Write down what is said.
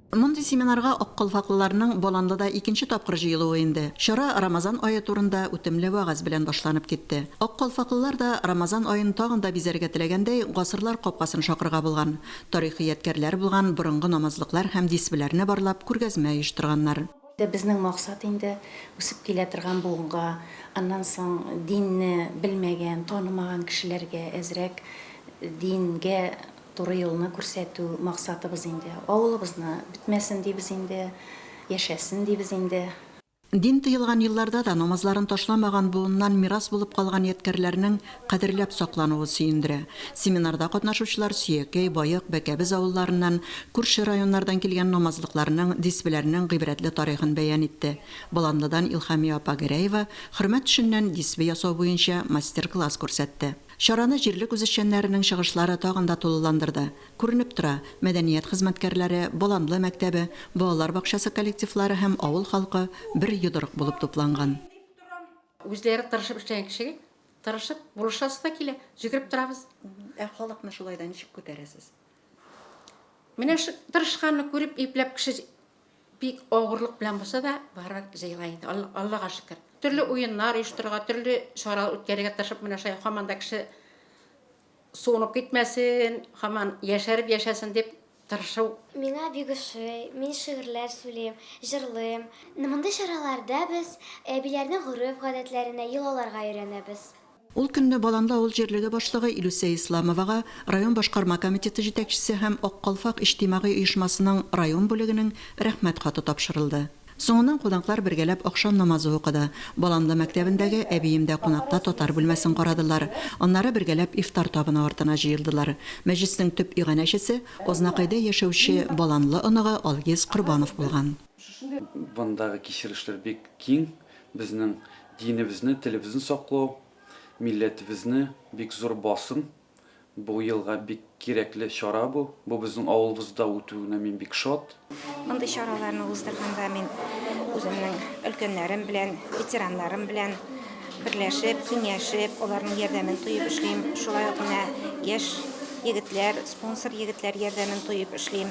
Мондый семинарга аккалфаклыларның Боланлыда икенче тапкыр җыелуы инде. Чара Рамазан ае турында үтемле вәгазь белән башланып китте. Аккалфаклылар да Рамазан аен тагын да бизәргә теләгәндәй, гасырлар капкасын шакырга булган, тарихи ядкәрләр булган борынгы намазлыклар һәм дисбеләрне барлап күргәзмә оештырганнар. Безнең максат инде, үсеп килә торган буынга, аннан соң динне белмәгән, танымаган кешеләргә әзрәк дингә Туры юлны күрсәтү максатыбыз инде. Авылыбызны бетмәсен дибез инде, яшәсен дибез инде. Дин тыелган елларда да намазларын ташламаган буыннан мирас булып калган ядкәрләрнең кадерләп саклануы сөендерә. Семинарда катнашучылар Сөякәй, Баек, Бәкәбез авылларыннан, күрше районнардан килгән намазлыкларның, дисбеләрнең гыйбрәтле тарихын бәян итте. Боланлыдан Илһамия апа Гәрәева хөрмә төшеннән дисбе ясау буенча мастер-класс күрсәтте. Чараны җирлек үзешчәннәренең чыгышлары тагын да тулыландырды. Күренеп тора, мәдәният хезмәткәрләре, Боланлы мәктәбе, балалар бакчасы коллективлары һәм авыл халкы бер йодрык булып тупланган. Үзләре тырышып эшләгән кешегә тырышып булышасы да килә, җөгереп торабыз. Ә халыкны шулай да ничек күтәрәсез? Менә тырышканны күреп, ипләп кеше Бик авырлык белән булса да, барыбер җыела инде, Аллага шөкер. Төрле уеннар оештырырга, төрле чаралар үткәрергә тырышып, менә шулай һаман да кеше суынып китмәсен, һаман яшәреп яшәсен дип тырышу. Миңа бик ошый, мин шигырьләр сүлим, җырлыйм. Мондый чараларда без әбиләрнең гореф-гадәтләренә, йолаларга өйрәнәбез. Ул көнне Баланлы авыл җирлеге башлыгы Илүсә Исламовага район башкарма комитеты җитәкчесе һәм Ак калфак иҗтимагый оешмасының район бүлегенең Рәхмәт хаты тапшырылды. Соңыннан кунаклар бергәләп ахшам намазы укыды. Баланлы мәктәбендәге Әбиемдә кунакта татар бүлмәсен карадылар. Аннары бергәләп ифтар табыны артына җыелдылар. Мәҗлеснең төп иганәчесе Азнакайда яшәүче Баланлы оныгы Алгиз Корбанов булган. Бындагы кичерешләр бик киң. Безнең динебезне, телебезне саклау, милләтебезне бик зур басым. Бу елга бик кирәкле чара бу. Бу безнең авылыбызда үтүенә мин бик шат. Мондый чараларны уздырганда мин үземнең өлкәннәрем белән, ветераннарым белән берләшеп, киңәшеп, аларның ярдәмен тоеп эшлим. Шулай ук менә яшь егетләр, спонсор егетләр ярдәмен тоеп эшлим.